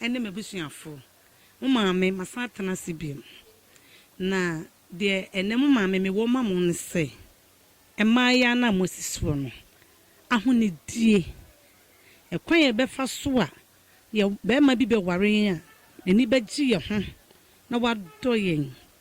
ne m'abusuafo, mo maame masan atena ase biom. Na deɛ ɛnɛ mo maame mewɔ ma mo ne sɛ, mmaayaa no a moasi soɔ no, ahonidie, ɛkwan a yɛbɛfa so a yɛ bɛrima bi bɛware yɛn a n'ani bɛgye yɛn ho na wadɔ yɛn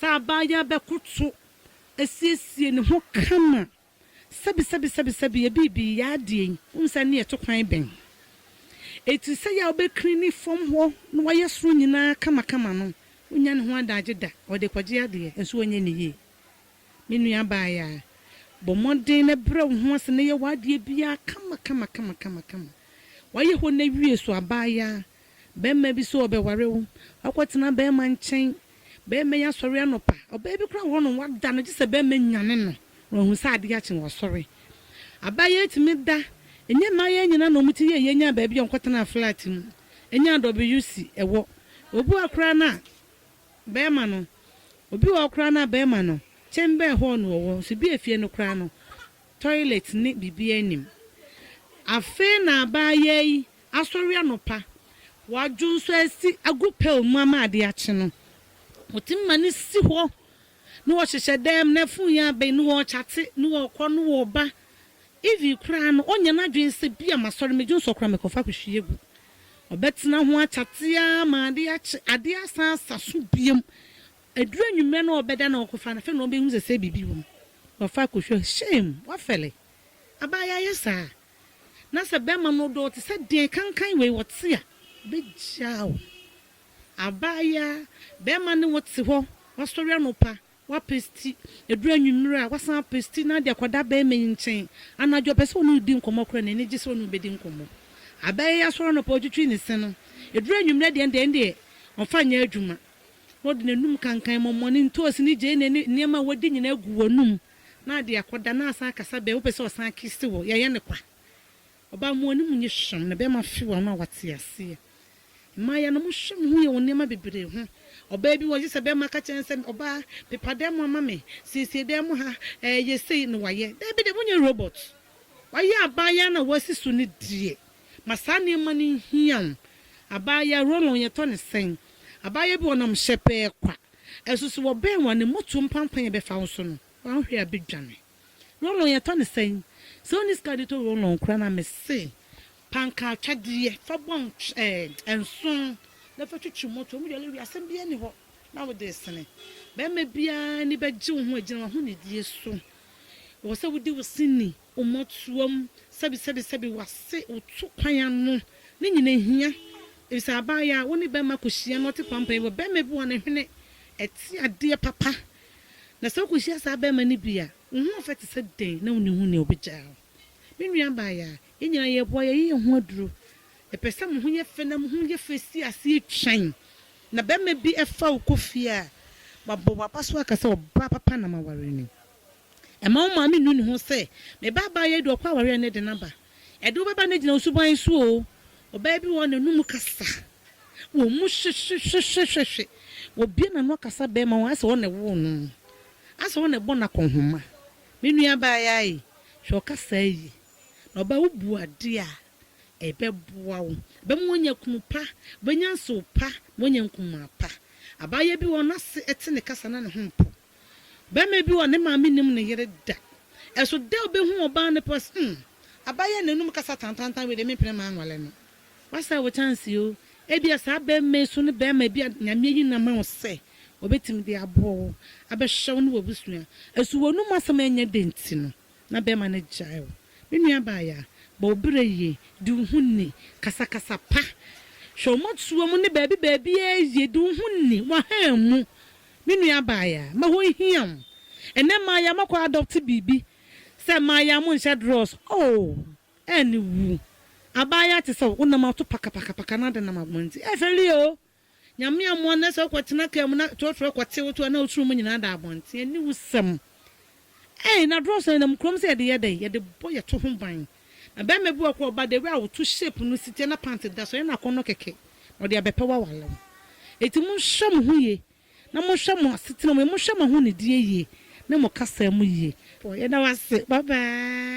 Sɛ abaayaa bɛkoto asiesie ne ho kama, sɛbisɛbisɛbisɛbi, yɛ biribi, yɛ adeɛ yi, wohu sɛ ɛnneɛ ɛto kwan bɛn? Eti sɛ yɛ a wobɛkiri ne fam hɔ na wayɛ soro nyinaa kamakama no, ɔnnya ne ho adagye da, ɔde rekɔgye adeɛ, nso ɔnyɛ no yie. Me nua abaayaa, bɔ mmɔden na brɛ wo ho ase na yɛ w'adeɛ biara kamakama kamakama kama. Wayɛ hɔ no awie so abaayaa. Barima bi so ɔbɛware wo, wakɔtena barima nkyɛn. Barima yi asɔre anɔpa, ɔbaa bi koraa wɔ hɔnom, wada no gye sɛ barima yi nyane no na wahu sɛ adeɛ akye na wasɔre. Abaayewa yi tumi da, ɛnyɛ mmaayewa nyinaa na wɔn ti yɛ yie nyaa baabi a wɔkɔtenaa flat mu, ɛnyaa WC, ɛwɔ. Obi wɔ hɔ koraa no a barima no, obi wɔ hɔ koraa no a barima no, kyɛmbɛn hɔɔ na ɔwɔ, nso bi a efie no koraa no, Toilet ne biribiara nnim. Afei na abaayaa yi asɔre anɔpa, wadwo nso asi agu pail mu ama ade akye no, ɔtumi ma no si hɔ na ɔhyehyɛ dan mu, na fon yi abɛn na ɔrekyate na ɔrekɔ na ɔreba. Even koraa no, ɔnyɛ n'adwene sɛ bi a masɔre, medwo nso koraa mekɔfa akɔhwie agu. Ɔbɛtena ho akyate ara ma ade akye, ade asan asa so bio. Aduru anwummerɛ no ɔbɛda na ɔkɔfa no, afei na ɔbɛhu sɛ sɛ biribi wɔ mu na ɔfa akɔhwɛ a, shame! Wafɛle. Abaa yɛayɛ saa. Na sɛ bɛrima no dɔ wo te sɛ deɛn kankan wei ɔte a, ɔbɛgyaa wo. Abaayaa, bɛrima ne wo te hɔ, wasɔre anɔpa, wapesti, ɛduru anwummerɛ a, wasan apesti na ade akɔda bɛrima yi nkyɛn. Anadwo ɔpɛ sɛ ɔne wo di nkɔmmɔ koraa na n'ani gye sɛ ɔne wo bɛdi nkɔmmɔ. Abaayaa yi asɔre anɔpa ɔtwitwi ne se no, ɛduru anwummerɛ deɛ ɛnde ɛndeɛ ɔmfa nyɛ adwuma. na ɔde n'anom kankan mɔmɔ ne ntoosi ne gyeene ne nneɛma a wadi nyinaa gu w'anom na ade akɔda na asan akasa bɛn wopɛ sɛ ɔsan kisse wo yɛyɛ no kwa ɔbaa mo anim nye hwam na bɛrima fe w'ano a wate aseɛ mmaayɛ no mo hwɛ mo ho yɛ wo nneɛma bebree ho ɔbaa bi wɔ gye sɛ bɛrima ka kyerɛ no sɛ ɔbaa pepa dan mu ama me siesie dan mu ha ɛɛ yɛ sei na wayɛ daabi de monyɛ robot wayɛ abaayɛ na wasi so ne deɛ Ma saa nneɛma no nhia wo. Abaayaa roll-on yɛtɔ no sɛn? Abaayaa bi wɔ hɔ ɔnam hyɛpɛɛ kwa. Ɛso so wɔbɛn wo a ne motoɔ mpampan a ɛbɛfa wo so no wanhwɛ a bɛdwane. Roll-on yɛtɔ no sɛn? Sɛ wonni sika de tɔ roll-on koraa no a mese panka atwadeɛ fa bɔ nso na fa twitwi motoɔ. Ɔmo yare wie a asɛm biara nni hɔ na wode resene. Barima biara ani bɛgye wo ho agyina w'ahonidie so. Ɛwɔ sɛ wodi wo se ni. Wo mmɔtoa mu sɛbesɛbesɛbe w'ase wo to kwan ano no nyina hia efisɛ abaayaa a wo ne bɛrima kɔhyia na ɔte pampan wɔ bɛrima bi hɔ a ne hwene te adeɛ papa na sɛ wokɔhyia saa bɛrima no bi a wo ho ɔfɛ te sɛ dɛn na wonni ho nea ɔbɛgyaa wo. Me nua abaayaa yɛn nyinaa yɛreboa yɛayɛ yɛn ho aduro yɛpɛ sɛ mo ho yɛ fɛ na mo ho yɛ fɛ si aseɛ twɛn na bɛrima bi fa wo kɔ fie a wabɔ w'abaso aka sɛ ɔbaa papa na maware no. Mma wo maame nnu ne ho sɛ, Me ba abaayewa yi de ɔkɔ aware a ɛne den aba. Ɛde wo bɛba no gyina wo suban so oo. Ɔbaa bi wɔ hɔ, n'anom kasa wɔ mu hwehwehwehwehwehwe. Obue n'ano akasa barima ho, ayɛ sɛ ɔno na ɛwoo no. Ayɛ sɛ ɔno na ɛbɔ no akɔnhoma. Me nua abaayewa ee, hwɛ wo kasaa yie. Na ɔbaa, wobu adeɛ a, ɛbɛboa wo. Ɛbɛma woanya kunu pa, wobɛnya nsew pa, na woanya nkumaa pa. Abaayewa bi wɔ hɔ, n'ase te ne kasa na ne ho mpo. Barima bi wɔ ne maame nim ne yere da. Ɛso dɛ obehu ɔbaa no pɛ sɛ, Umm, aba yɛ n'anum kasa tantantan wei deɛ mempene ma anwale no. Woasɛe wo kyanse o. Ebia saa barima yi so ne barima bi a Nyame ayi no ama wo sɛ obetumi de aboɔ wo, abɛhwɛ wo ne w'abusua. Ɛso w'anum asɛm ɛnyɛ dɛ nti no na barima no gyae wo. Me nua abaayaa, bɔ wo berɛ yie, di wo ho ni, kasa kasa pa, hwɛ wo mmɔtoa mu ne baabi baabiara yie, di wo ho ni, w'ahaa mu, Me nua abaayaa, mɛhɔ nhia wo. Ɛnɛ mmayewa mo akɔ adɔpte biribi sɛ mmayewa mo nhyɛ drɔs oo ɛne wu. Abaayewa te sɛ wo nam ato pakapakapaka na ade nam abɔnten. Ɛfɛre oo. Nyame amoa na sɛ wokɔ tena car mu na trɔtrɔ kɔte wo to a na wo tiri mu nyinaa da abɔnten. Aniwusɛm. Ei, na aduro sɛn na mu kurom sɛ yɛde yɛ dɛn? Yɛde bɔ yɛto ho ban. Na bɛɛma bi wɔ hɔ koraa ɔba dawia a woto shape no si tiɛ na pant da so, ɛyɛ no akɔnnɔ kɛkɛ na ɔde abɛpɛ wo aware wo. Enti monhwɛ mo ho yie na monhwɛ mo asetena mu yie, monhwɛ mo ahonidie yie ne mo kasaa mu yie. Yɛda wo ase bye bye.